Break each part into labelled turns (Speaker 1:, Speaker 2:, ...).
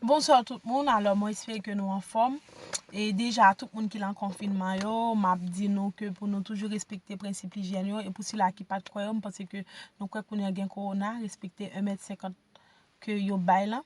Speaker 1: Bonsoir tout moun alò mwen espere ke nou anfòm e deja tout moun ki lan konfinman yo map di nou ke pou nou toujou respekte prensip lijyèn yo e pou sila ki pat kwè yo m panse ke nou kwè kounye an gen kowona respekte 1 mèt 50 ke yo bay lan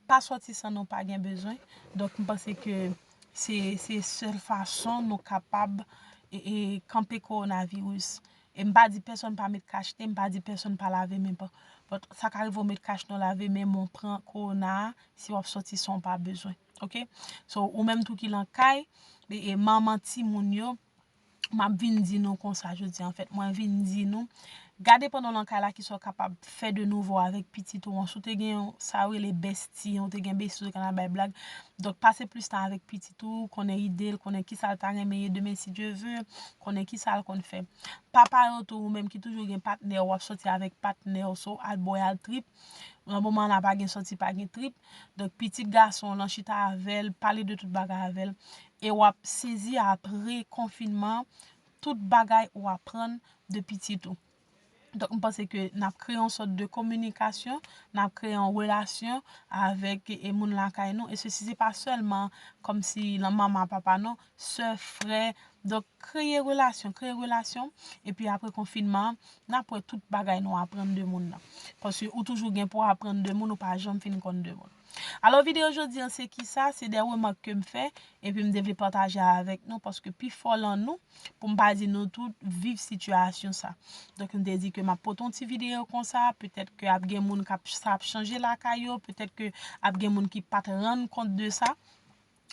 Speaker 1: pa sòti san nou pa gen bezwen donk m panse ke se sèl fason nou kapab e kanpe kowona virus E m pa di pèsonn pa met kach e m pa di pèsonn pa lave men pa. But sa ka rive w met kach nan w lave men men w pran kowona a si w ap soti san w pa bezwen. Ok. So ou menm tou ki lan kay e manman timoun yo m ap vin di nou konsa jodi an. Anfèt mwen vin di nou gade pandan w lan kay la ki sa w kapab fè de nouvo avèk pitit ou an. Si w te gen sa yo rele besti ou te gen besti ou te konn al bay blag. Donk pase plis tan avèk pitit ou konnen ide l konnen ki sa l ta renmen ye demen si Dye ve. Konnen kisal konn fè. Papa yo tou ou menm ki toujou gen patnèw wap sòti avèk patnèw so al bòy al trip nan moman la pa gen sòti pa gen trip donk pitit gasonw lan chita avèl pale de tout bagay avèl e wap sezi apre konfinman tout bagay ou aprann de pitit ou. Donk m panse ke n ap kreye yon sòt de kominikasyon, n ap kreye yon relasyon avèk e moun lakay nou e sesi se pa sèlman kòmsi lan manman a papa non, sè, frè, donk kreye relasyon, kreye relasyon epi apre konfinman an n ap wè tout bagay nou aprann de moun nan paske ou toujou gen pou aprann de moun ou pa janm fin konn de moun. Alò videyo jodi an se kisa, se de remak ke m fè, epi m te vle pataje avèk nou paske pifò lan nou, pou m pa di nou tout, viv sitiyasyon sa. Donk m te di ke m ap pote yon ti videyo konsa, petèt ke ap gen moun kap sa ap chanje lakay yo, petèt ke ap gen moun ki pat rann kont de sa,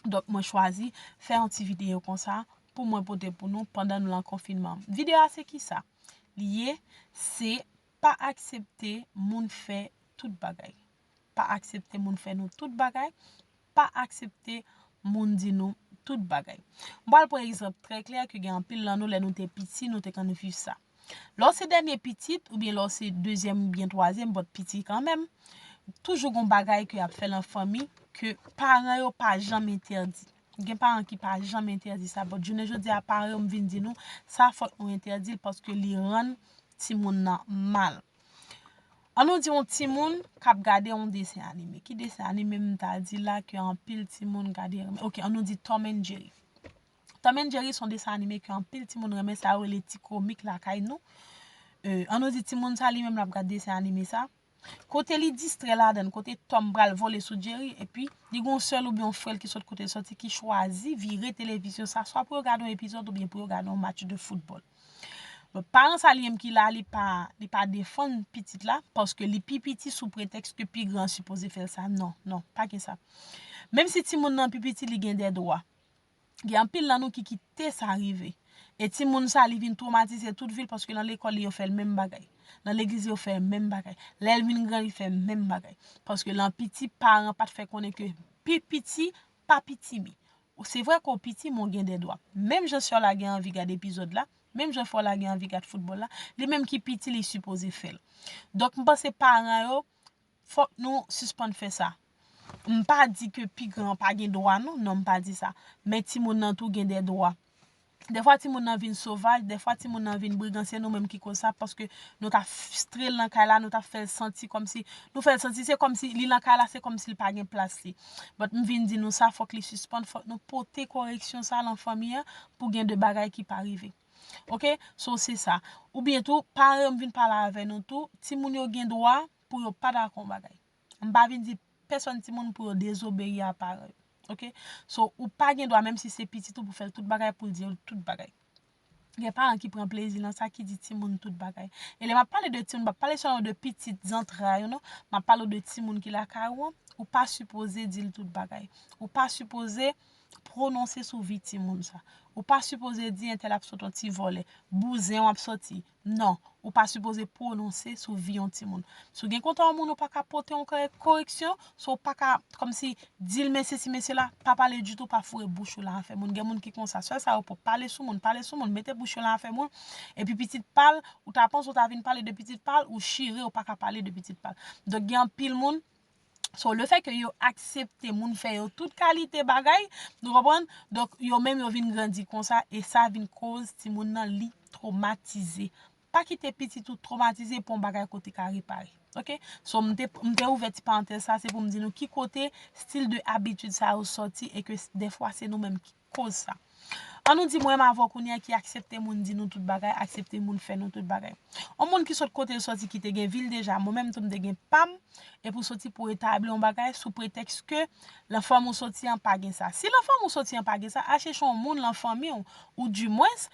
Speaker 1: donk mwen chwazi fè yon ti videyo konsa pou mwen pote pou nou pandan nou lan konfinman. Videyo a se kisa? Li ye, se pa aksepte moun fè tout bagay. pa aksepte moun fè nou tout bagay, pa aksepte moun di nou tout bagay. M pral pran egzanp trè klè ke gen anpil nan nou lè nou te piti nou te konn viv sa. Lè w se dènye pitit oubyen lè w se dezyèm oubyen twazyèm but piti kanmenm, toujou gon bagay ke y ap fè lan fanmi ke paran yo pa janm entèdi. Gen paran ki pa janm entèdi sa but jounen jodi a paran yo m vin di nou sa fòk nou entèdi l paske li rann timoun nan mal. An nou di yon timoun kap gade yon desen anime. Ki desen anime m ta di la ke anpil timoun gade renmen? Ok, an nou di Tom and Jerry. Tom and Jerry son desen anime ke anpil timoun renmen. Sa yo rele ti komik lakay nou. An nou di timoun sa li menm lap gade desen anime sa. Kote li distrè ladan l, kote Tom pral vole sou Jerry. E pi, li gen yon sè l ou byen yon frè l ki sot kote l soti ki chwazi vire televizyon sa. Swa pou yo gade yon epizòd ou byen pou yo gade yon match de foutbòl. Donk paran sa li menm ki la li pa li pa defann pitit la paske li pi piti sou pretèks ke pi gran an sipoze fè l sa non non pa gen sa menm si timoun nan pi piti li gen dè dwa gen anpil nan nou ki kite sa rive e timoun sa li vin twomatize tout vi l paske nan lekòl li yo fè l menm bagay nan legliz yo fè l menm bagay lè l vin gran li fè menm bagay paske lan piti paran pat fè konnen ke pi piti pa pitimi se vre ke w piti men w gen de dwa menm jan sè w la gen anvi gad epizòd la menm jan frè w la gen anvi gad foutbòl la li menm ki piti li sipoze fè l donk m panse paran yo fòk nou sispann fè sa m pa di ke pi gran an pa gen dwa non m pa di sa men timoun nan tou gen de dwa Dèfwa timoun nan vin sovaj, dèfwa timoun nan vin brigan se nou menm ki koz sa paske nou ta fstre l nan kay la, nou ta fè l santi kòmsi, nou fè l santi se kòmsi li nan kay la se kòmsi l pa gen plas li. But m vin di nou sa fòk li sispann, fòk nou pote koreksyon sa lan fanmi an pou gen de bagay ki pa rive. Ok, so se sa. Oubyen tou, paran yo m vin pale avè nou tou, timoun yo gen dwa pou yo pa dakò yon bagay. M pa vin di pèsòn timoun pou yo dezobeyi a paran yo. Ok. So, ou pa gen dwa menm si se pitit ou pou fè l tout bagay pou l di ou l tout bagay. Gen paran ki pran plezi nan sa ki di timoun tout bagay. E lè m ap pale de timoun m pa pale sèlman de pitit zantray ou non. M ap pale ou de timoun ki lakay ou an. Ou pa sipoze di l tout bagay. Ou pa sipoze pwononse sou vi timoun sa. Ou pa sipoze di entèl ap sot yon ti vòlè. Bouzen w ap soti. Non, ou pa sipoze pwononse sou vi yon timoun. Si w gen kontan yon moun ou pa ka pote yon koreksyon, so w pa ka kòmsi di l men sesi men sela, pa pale ditou, pa foure bouch ou lan afè moun. Gen moun ki konsa, sèl sa yo pwòp, pale sou moun, pale sou moun, mete bouch yo lan afè moun, epi pitit pa l, ou ta panse ou ta vin pale de pitit pa l, ou chire ou pa ka pale de pitit pa l. Donk gen anpil moun. So le fè ke yo aksepte moun fè yo tout kalite bagay, nou konprann, donk yo menm yo vin grandi konsa e sa vin koz timoun nan li twomatize. Pa kite pitit ou twomatize pou yon bagay ke w te ka repare. Ok. So m te m te ouvè ti parantèz sa se pou m di nou ki kote stil de abitid sa yo sòti e ke dèfwa se nou menm ki koz sa. An nou di mwenm avèw kounye a ki aksepte moun di nou tout bagay, aksepte moun fè nou tout bagay. On moun ki sot kotel soti ki te gen vil deja, mwen menm tou m te gen pam, epi ou soti pou etabli on bagay sou pretèks ke lan fanmi ou soti an pa gen sa. Si lan fanmi ou soti an pa gen sa, al chèche on moun lan fanmi ou, ou di mwens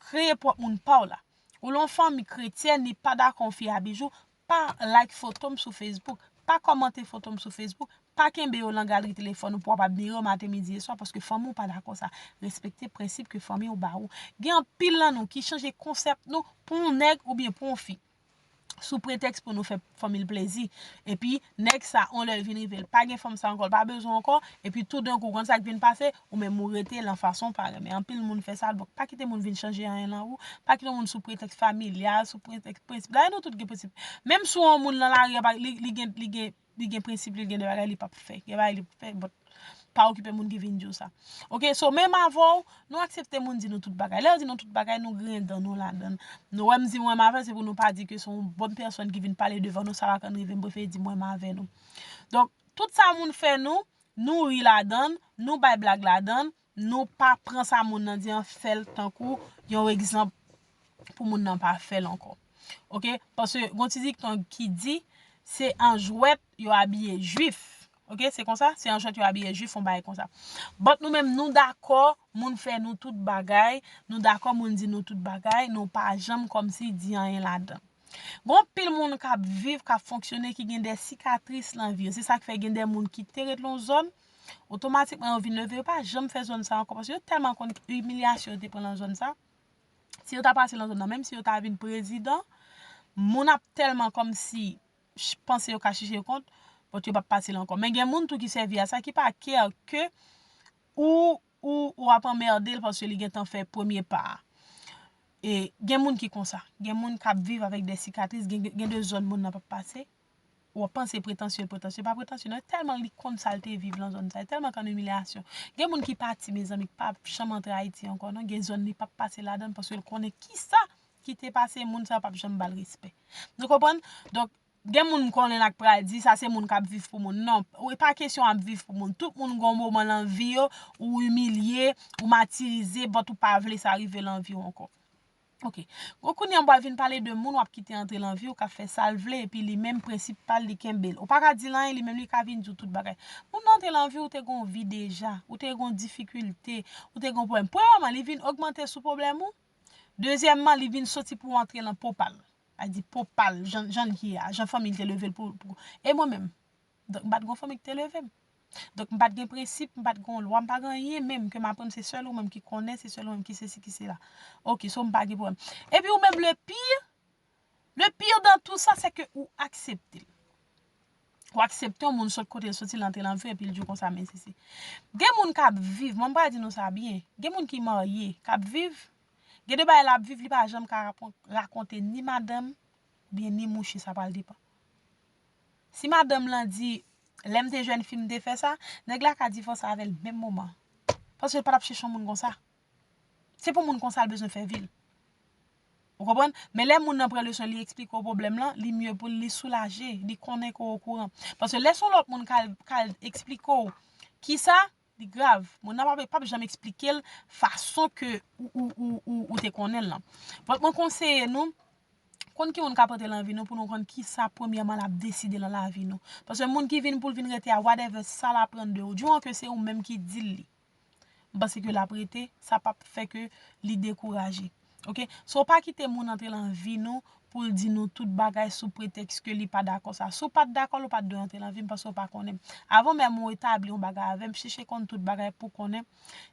Speaker 1: kreye pwòp moun paw la. Ou lan fanmi kretyèn li pa dakò on fi abijou, Pa like foto m sou Facebook, pa kòmante foto m sou Facebook, pa kenbe yo lan galri telefòn ou pou w ap admire yo maten, midi e swa paske fanmi w pa dakò sa. Respekte prensip ke fanmi w ba ou. Gen anpil lan nou ki chanje konsèp nou pou yon nèg oubyen pou yon fi sou pretèks pou nou fè fanmi l plezi. Epi nèg sa yon lè l vin rive l pa gen fanm sa ankò, l pa bezwen ankò, epi toudenkou konn sa k vin pase, Ou menm ou rete lan fason ou pa renmen. Anpil moun fè sa, donk pa kite moun vin chanje anyen lan ou. Pa kite yon moun sou pretèks familyal, sou pretèks prensip. Dayè nou tout gen prensip. Menm sou yon moun lan lari a, li gen, li gen, li gen prensip li, li gen de bagay li pap fè. Gen bagay li pap fè, but pa okipe moun ki vin di w sa. Ok, so menm avè w, nou aksepte moun di nou tout bagay. Lè yo di nou tout bagay, nou griyen dan nou ladan. Nou wè m di mwen m avè l, se pou nou pa di ke se yon bòn pèsòn ki vin pale devan nou, sa pa ka rive m prefere di mwen m avè nou. Donk, tout sa moun fè nou, Nou ri ladann, nou bay blag ladann, nou pa pran sa moun nan di an fèl tankou yon egzanp pou moun nan pa fèl ankò. Ok, paske gon ti dikton ki di, se an jwèt yo abiye jwif. Ok, se konsa, se an jwèt yo abiye jwif, yon bagay konsa. But nou menm nou dakò moun fè nou tout bagay, nou dakò moun di nou tout bagay, nou pa janm kòmsi di anyen ladann. Gon anpil moun k ap viv, k ap fonksyone ki gen de sikatris nan vi yo. Se sa k fè gen de moun ki te ret nan yon zòn, otomatikman yo vin leve, yo pa janm fè zòn sa ankò paske yo tèlman konn imilyasyon yo te pran nan zòn sa. Si yo ta pase nan zòn nan, menm si yo ta vin prezidan, moun ap tèlman kòmsi panse yo ka chije yo kont, bòt yo p ap pase la ankò. Men gen moun tou ki sèvi a sa ki pa kè ke ou Ou ou ap anmèrdel paske li gentan fè premye pa a. E gen moun ki konsa. Gen moun k ap viv avèk de sikatris, gen de zòn moun nan p ap pase. Ou ap panse pretansye l pretansye, li pa pretansye non. Tèlman li konn sa l te viv lan zòn sa, li tèlman konn imilyasyon. Gen moun ki pati mezanmi k pa ap janm antre Ayiti ankò non. Gen zòn li p ap pase ladann paske l konnen kisa ki te pase moun sa yo p ap janm ba l respè. Nou konprann? Donk Gen moun m konnen la k pral di sa se moun kap viv pou moun non e pa kesyon ap viv pou moun tout moun gen yon moman lan vi yo ou imilye ou matirize but ou pa vle sa rive lan viw ankò ok gwo kounye an wap vin pale de moun wap kite antre lan viw kap fè sal vle epi li menm prensip pal li kenbel ou paka dil anyen li menm li ka vin diw tout bagay moun nan antre lan viw ou te gen yon vi deja ou te gen yon difikilte ou te gen yon pwoblèm premyèman li vin ogmante sou pwoblèm ou dezyèmman li vin soti pou antre lan po pal Al di pwòp pa l, jan jan l ye a, jan fanmi l te leve l pou pou. E mwen menm? Donk m pa t gen yon fanmi ki te leve m. Donk m pa t gen prensip, m pa t gen yon lwa, m pa gen anyen menm ke m aprann se sèl ou menm ki konnen, se sèl ou menm ki sesi, ki sela. Ok, so m pa gen pwoblèm. Epi ou menm le pire, le pire dans tout ça c'est que ou aksepte l. Ou aksepte yon moun sot kote l soti, l antre nan vi w epi l di w konsa men sesi. Gen moun k ap viv, mwen m pa di nou sa byen, gen moun ki marye, k ap viv, Gen de bagay lap viv li pa janm ka rakonte ni madanm oubyen ni mouche sa pral depan. Si madanm lan di lèm te jèn fi m te fè sa, nèg la ka divòse avèl menm moman an. Paske l patap chèche yon moun konsa. Se pou moun konsa l bezwen fè vi l. Ou konprann? Men lè moun nan pran leson li eksplike w pwoblèm lan, li mye pou l li soulaje, li konnen ke w okouran. Paske lè son lòt moun kal eksplike w kisa. Li grav. Moun nan pa pap janm eksplike l fason ke ou te konnen l lan. Donk mwen konseye nou, konn ki moun kap rantre lan vi nou pou nou konn kisa premyèman lap deside lan lavi nou. Paske moun ki vin pou l vin rete a whatever sa l aprann de ou. Du moman ke se ou menm ki di l li. M panse ke l ap rete, sa pap fè ke li dekouraje. Ok so pa kite moun antre lan vi nou poul di nou tout bagay sou pretèks ke li pa dakò sa si w pat dakò l ou pat dwe antre lan vim paske w pa konnen m avan menm ou etabli yon bagay avèm chèche konn tout bagay pou konnen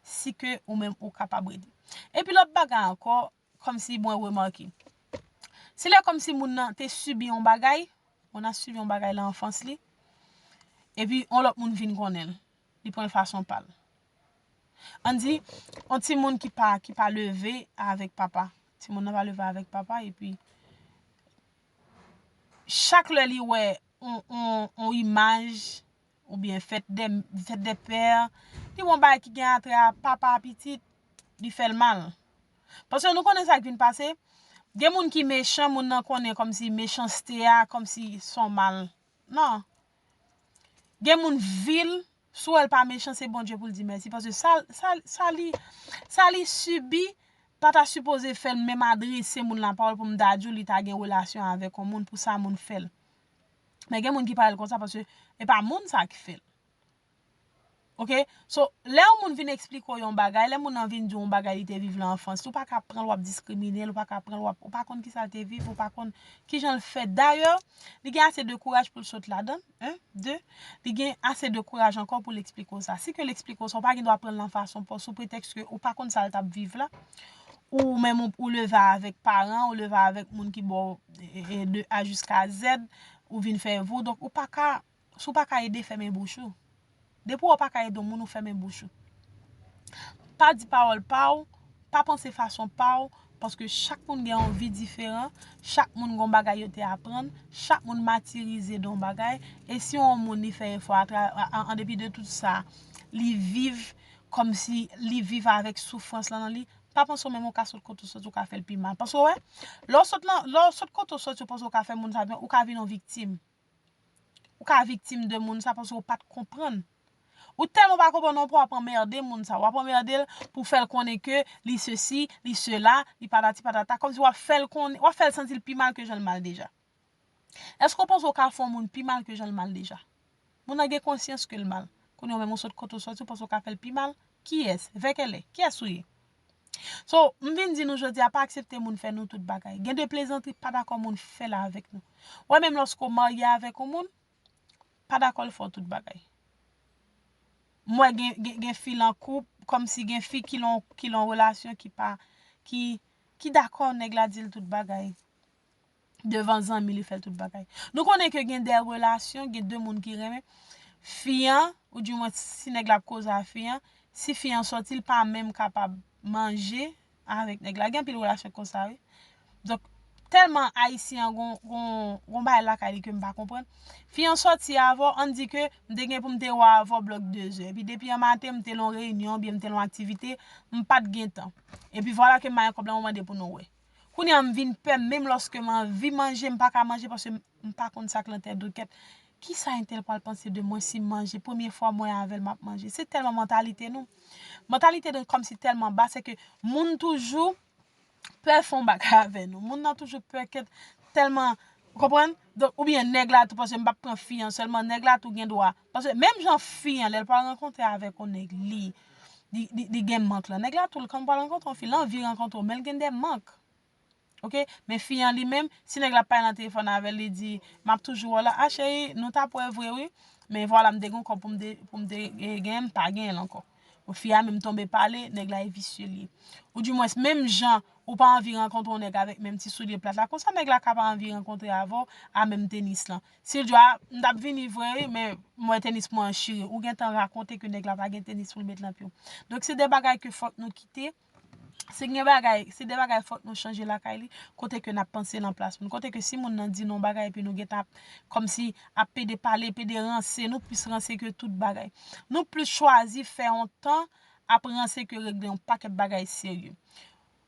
Speaker 1: si ke ou menm ou kapab rete epi lòt bagay ankò kòmsi mwen remake se lè kòmsi moun nan te sibi yon bagay moun nan sibi yon bagay lan anfans li epi yon lòt moun vin konnen l li pran l fason pal. An di, yon timoun ki pa, ki pa leve avèk papa. Timoun nan pa leve avèk papa epi, chak lè li wè yon, yon imaj oubyen fèt dè, fèt dè pè, li wè yon bagay ki gen atrè a papa a pitit, li fè l mal. Paske nou konnen sa k vin pase, gen moun ki mechan, moun nan konnen kòmsi mechanste a, kòmsi son mal. Non. Gen moun vil. Sou wèl pa mechan se Bondye poul di mèsi paske sa li sa li sibi pa ta sipoze fèl menm adrese moun la pawòl poum ta diw li ta gen relasyon avèk yon moun pou sa moun fèl men gen moun ki parèl konsa paske e pa moun sa ki fèl ok so lè yon moun vin esplike w yon bagay lè moun nan vin diw yon bagay li te viv lan anfans li ou pa ka pranl wap diskrimine l ou pa ka pranl wap ou pa konn kisa l te viv ou pa konn kijan l fèt dayè li gen ase de kouraj poul sot ladann. 1, 2, Li gen ase de kouraj ankò pou l eksplike w sa. Si ke l eksplike w sa, ou pa gen dwa pran l nan fason pa w, sou pretèks ke ou pa konn sa l t ap viv la. Ou menm ou leve avèk paran, ou leve avèk moun ki ba w de A jiska Zèd, ou vin fè vou, donk ou pa ka, si w pa ka ede, fèmen bouch ou. Depi wè w pa ka ede yon moun ou fèmen bouch ou. Pa di pawòl pa w, pa panse fason pa w, paske chak moun gen yon vi diferan, chak moun gen yon bagay yo te aprann, chak moun matirize de yon bagay, e si yon moun li fè efò an depi de tout sa, li viv kòm si li viv avèk soufrans lan nan li, pa panse ou menm ou ka sot kote ou sot ou ka fè l pi mal. Paske wè, lè w sot kote ou sot ou panse ou ka fè moun sa byen, ou ka vin yon viktim. Ou ka viktim de moun sa paske ou pat konprann. Ou tèlman pa konprann anpwen wap anmerde moun sa. Wap anmerde l pou w fè l konnen ke li sesi, li sela, li patati patata. Kòmsi wap fè l konnen, wap fè l santi l pi mal ke jan l mal deja. Èske ou panse ou ka fè yon moun pi mal ke jan l mal deja? Moun nan gen konsyans ke l mal. Kounye ou menm ou sòt kote ou sòti ou panse ou ka fè l pi mal? Kiyès? Vè kèlè? Kiyès ou ye? So, m vin di nou jodi a pa aksepte moun fè nou tout bagay. Gen de plezantri pa dakò moun fè la avèk nou. Wè menm lòske w marye avèk yon moun, pa dakò l fè w tout bagay. M wè gen fi lan koup, kòmsi gen fi ki lan yon relasyon ki pa, ki dakò nèg la di l tout bagay. Devan zanmi li fè tout bagay. Nou konnen ke gen de relasyon, gen de moun ki renmen. Fi an, ou di mwen si nèg la ap koze a fi an, si fi an sòti li pa menm kapab manje avèk nèg la. Gen anpil relasyon konsa wi. Donk, tèlman ayisyen an gon bagay lakay li ke m pa konprann. Fi an sòti avè w, ann di ke m te gen pou m te wè avè w blòk dezè. Epi depi an maten m te lan yon reyinyon oubyen m te lan yon aktivite, m pa t gen tan. Epi vwala ke m ba yon kòb la mwen mande pou nou wè. Kounye a m vin pè menm lòske m anvi manje m pa ka manje paske m pa konn sa k lan tèt do kèt kisa entèl pral panse de mwen si m manje premye fwa mwen avèl map manje se tèlman mantalite nou mantalite nou kòmsi tèlman ba sèke moun toujou pè fon bagay avè nou moun nan toujou pè kèt tèlman ou konprann oubyen nèg la tou paske m pap pran fi an sèlman nèg la tou gendwa Paske menm jan fi an lèl pral rankontre avèk yon nèg li li gen mank lan nèg la tou kan pral rankontre yon fi l anvi rankontre w menl gen de mank ok men fi an li menm si nèg la ap pale nan telefòn avèl li di map toujou wè w la a cheri nou tap wè vre wi men vwala m te gen yon kòb poum te genyen m pa genyen l ankò. Bon fi a menm tonbe pale, nèg la e visye li. Ou di mwens menm jan ou pa anvi rankontre yon nèg avèk menm ti soulye plat la konsa nèg la ka pa anvi rankontre avè w a menm tenis lan. Si l di w a m t ap vini vre wi men m wè tenis mwen an chire ou gentan rakonte ke nèg la pa gen tenis pou l met lan pye w. Donk se de bagay ke fòk nou kite. Si gen bagay, si de bagay fòk nou chanje lakay li, kote ke nap panse nan plas moun. Kote ke si moun nan di nou yon bagay epi nou gentan ap kòm si ap pede pale, pede ranse, nou plis ranse ke tout bagay. Nou plis chwazi fè yon tan ap ranse ke regle yon pakèt bagay serye.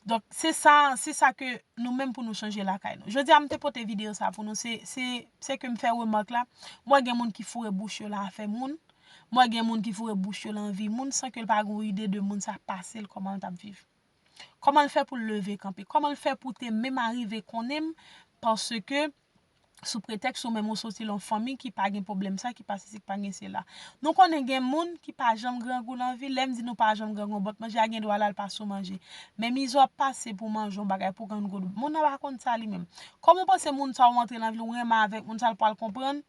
Speaker 1: Donk, se sa, se sa ke nou menm pou nou chanje lakay nou. Jodi a m te pote video sa pou nou se, se, se ke m fè remake la, m wè gen moun ki foure bouch yo lan afè moun, M wè gen moun ki foure bouch yo lan vi moun san ke l pa gen yon ide de moun sa pase l kòman l tap viv. Kòman l fè pou l leve kanpe. Kòman l fè pou te menm arive konnen m paske sou pretèks ou menm ou soti lan yon fanmi ki pa gen pwoblèm sa ki pa sesi ki pa gen sela. Nou konnen gen moun ki pa janm grangou lan vi l. Lè m di nou pa janm grangou bòt manje a gen dwa la l pa sou manje. Men mizè w ap pase pou w manje yon bagay pou w grangou l. Moun nan pa konn sa li menm. Kòman w panse moun sa ou antre lan vi l ou renmen avèk moun sa l pral konprann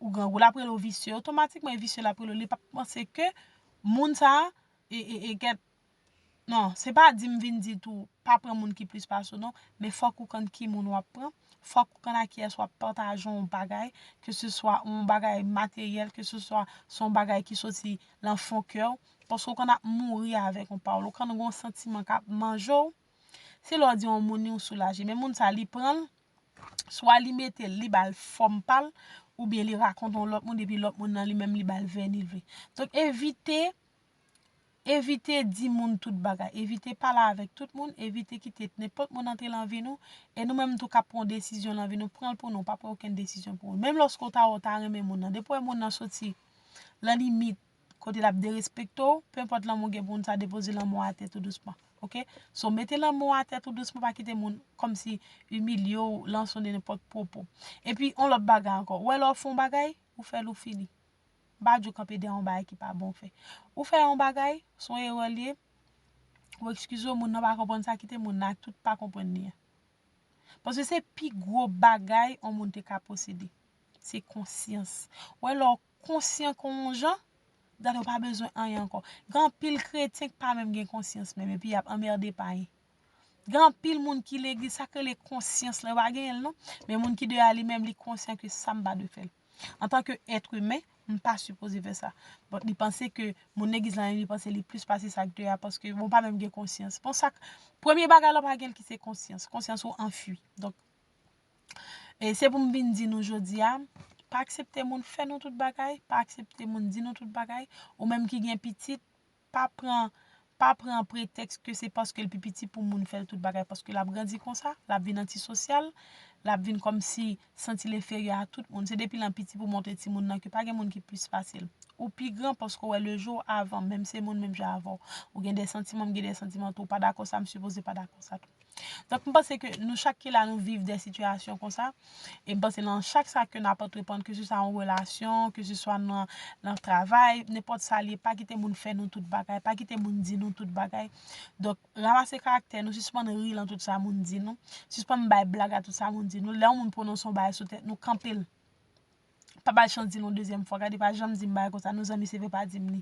Speaker 1: Ou grangou lap rele w visye otomatikman e visye lap rele w li pap panse ke moun sa e gèt nan se pa di m vin di tou pa pran moun ki plis pase w non men fòk ou konn ki moun wap pran fòk ou konn a kiyès wap pataje yon bagay ke se swa yon bagay materyèl ke se swa se yon bagay ki soti lan fon kè w paske w konn ap mouri avèk yon pawòl ou konn gen yon santiman kap manje w Se lè w di yon moun ni w soulaje. Men moun sa li pran l, swa li mete l, li ba l fòm pa l, oubyen li rakonte yon lòt moun epi lòt moun nan li menm li ba l vèni l vle. Donk evite, evite di moun tout bagay. Evite pale avèk tout moun, evite kite nenpòt moun antre lan vi nou. E nou menm tou k ap pran yon desizyon lan vi nou, pran l pou nou, pa pran okenn desizyon pou moun. Menm lòske w ta wè w ta renmen moun nan, depi w wè moun nan soti lan limit, kote lap derespekte w, pe enpòt lanmou gen pou moun sa depoze lanmou atè tou dousman ok, so mete lanmou atè tou dousman pa kite moun kòmsi imilye w lan son de nenpòt pwopo epi on lòt bagay ankò wè lè w fè yon bagay ou fè l ou fini m pa di w kanpe dèyè yon bagay ki pa bon w fè ou fè yon bagay son erè l ye ou ekskize w moun nan pa konprann sa kite moun nan ak tout pa konprann li an paske se pi gwo bagay yon moun te ka posede se konsyans wè lè w konsyan kon yon jan, dat yo pa bezwen anyen ankò. Gen anpil kretyen ki pa menm gen konsyans menm epi y ap anmède payen. Gen anpil moun ki legliz, sa k rele konsyans la, yo pa genyen l non. Men moun ki deyò a li menm li konsyan ke sa m pa dwe fè l. Antanke èt imen, m pa sipoze fè sa. Bòt li panse ke moun legliz la menm li panse li plis pase sa k deyò a paske bon pa menm gen konsyans. Bon sa k, premye bagay la w pa gen l ki se konsyans. Konsyans ou anfui. Donk, E se pou m vin di nou jodi a, pa aksepte moun fè nou tout bagay, pa aksepte moun di nou tout bagay, ou menm ki gen pitit, pa pran, pa pran pretèks ke se paske l pi piti pou moun fè l tout bagay, paske l ap grandi konsa, l ap vin antisosyal, l ap vin kòmsi santi l enferyè a tout moun, se depi l an piti pou montre timoun nan ke pa gen moun ki plis pase l. Ou pi gran paske w wè le jou avan, menm se moun menm jan avè w. Ou gen de santiman, m gen de santiman tou, ou pa dakò sa, m sipoze pa dakò sa tou. Donk m panse ke nou chak ki la nou viv de sitiyasyon konsa, e m panse nan chak sa ke n ap antreprann ke se swa yon relasyon, ke se swa nan travay, nenpòt sa li ye, pa kite moun fè nou tout bagay, pa kite moun di nou tout bagay. Donk, ranmase karaktè nou, sispann ri lan tout sa moun di nou, sispann bay blag a tout sa moun di nou, lè yon moun pwononse yon bagay sou tèt nou, kanpe l. Pa ba l chans di l yon dezyèm fwa, gade pa janm di m bagay konsa non zanmi se vre pa di m li.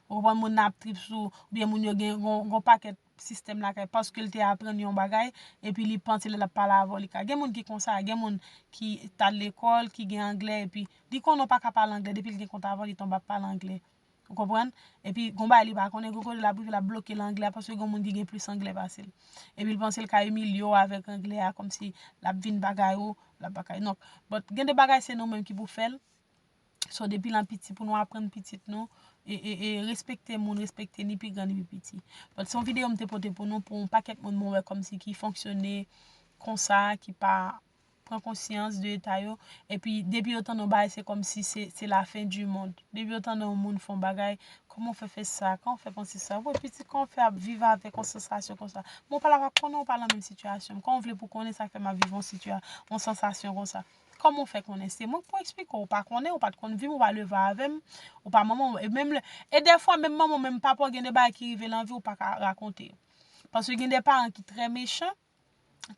Speaker 1: Ou konprann moun nan ap trip sou ou, oubyen moun yo gen yon pakèt sistèm lakay paske l te aprann yon bagay epi li panse lè l ap pale avè w li ka. Gen moun ki konsa, gen moun ki t al lekòl, ki gen anglè epi li konnen w pa ka pale anglè depi l gen kont avè w li tonbe ap pale anglè. Ou konprann? Epi gon bagay li pa konnen, gen kote l ap rive l ap bloke nan anglè a paske gen moun ki gen plis anglè pase l. Epi l panse l ka imilye w avèk anglè a kòmsi l ap vin bagay ou, l ap bagay. Donk, but gen de bagay se nou menm ki pou fè l. So depi lan piti pou nou aprann pitit nou e respekte moun, respekte ni pi gran ni pi piti. Donk se yon videyo m te pote pou nou pou yon pakèt moun mwen wè kòmsi ki fonksyone konsa, ki pa pran konsyans de eta yo. E pi depi yo tande yon bagay se kòmsi se la fen di mond. Depi yo tande yon moun fè yon bagay, kòman w fè fè sa, kòman w fè panse sa. Wè pitit kòman w fè ap viv avèk yon sansasyon konsa. Mwen w pa la pa konnen w pa lan menm sitiyasyon m. Kòman w vle pou konnen sa k fè m ap viv yon sansasyon konsa. Kòman ou fè konnen se mwen k pou eksplike w? Ou pa konnen, ou pa t konn vi m, ou pa leve avè m, ou pa manman w. E menm lè, e dèfwa menm manman w, menm papa w gen de bagay ki rive lan vi w ou pa ka rakonte. Paske gen de paran ki trè mechan,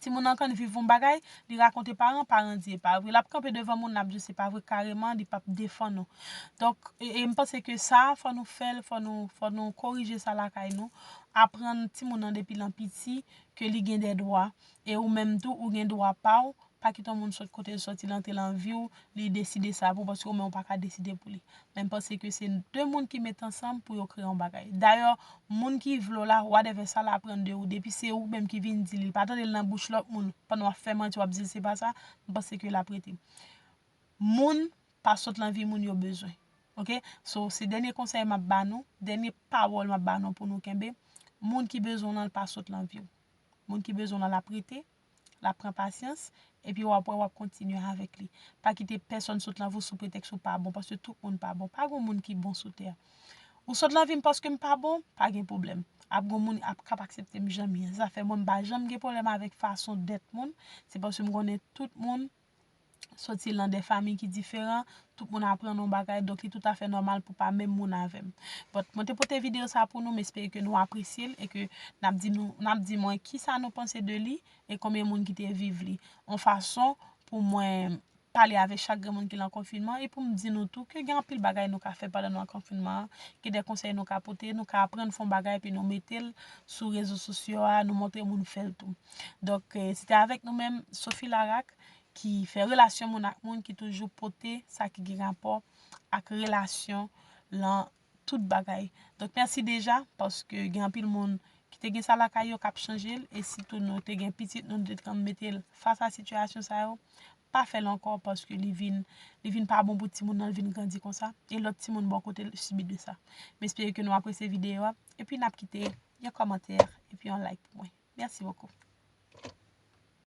Speaker 1: timoun nan konn viv yon bagay, li rakonte paran, paran di e pa vre. L ap kanpe devan moun l ap di w se pa vre kareman, li p ap defann ou. Donk, e m panse ke sa a fò nou fè l, fò nou, fò nou korije sa lakay nou. Aprann timoun nan depi lan piti ke li gen de dwa. E ou menm tou ou gen dwa pa w Pa kite yon moun sòt kote l sòti l antre lan vi w, li deside sa pou w paske ou menm ou pa ka deside pou li. Men m panse ke se 2 moun ki met ansanm pou yo kreye yon bagay. Dayè, moun ki vle w la, whatever sa l aprann de ou, depi se ou menm ki vin di li, l pa tande l nan bouch lòt moun, pandan w ap fè manti w ap di l se pa sa, m panse ke l ap rete. Moun pa sòt lan vi moun yo bezwen. Ok, so se dènye konsèy m ap ba nou, dènye pawòl m ap ba nou pou nou kenbe, moun ki bezwen w lan l pa sòt lan vi w. Moun ki bezwen w lan l ap rete, L ap pran pasyans, epi w ap wè w ap kontinye avèk li. Pa kite pèsonn sot lan vi w sou pretèks ou pa bon, paske tout moun pa bon. Pa gen yon moun ki bon sou tè a. Ou sot lan vi m paske m pa bon, pa gen pwoblèm. Ap gen yon moun ap kab aksepte m jan m ye. Zafè mwen m pa janm gen pwoblèm avèk fason dèt moun, se paske m konnen tout moun soti lan de famiy ki diferan, tout moun aprann yon bagay, donk li tout afè nòmal pou pa menm moun avèm. But, mwen te pote video sa pou nou, m espere ke nou apresye l e ke nap di nou, nap di mwen kisa nou panse de li e konbyen moun ki te viv li. Yon fason pou mwen pale avèk chak grenn moun ki lan konfinman e pou m di nou tou ke gen anpil bagay nou ka fè pandan nou lan konfinman an, gen de konsèy nou ka pote, nou ka aprann fè yon bagay epi nou mete l sou rezo sosyo a, nou montre moun fè l tou. Donk, se te avèk nou menm Sophie Laraque ki fè relasyon moun ak moun ki toujou pote sa ki gen rapò ak relasyon lan tout bagay. Donk, mèsi deja paske gen anpil moun ki te gen sa lakay yo k ap chanje l e sitou nou te gen pitit nou, nou te dkab mete l fas a sitiyasyon sa yo. Pa fè l ankò paske li vin li vin pa bon pou timoun nan, li vin grandi konsa e lòt timoun bò kote l sibi de sa. M espere ke nou apresye videyo a epi n ap kite yon kòmantè epi yon like pou mwen. Merci beaucoup.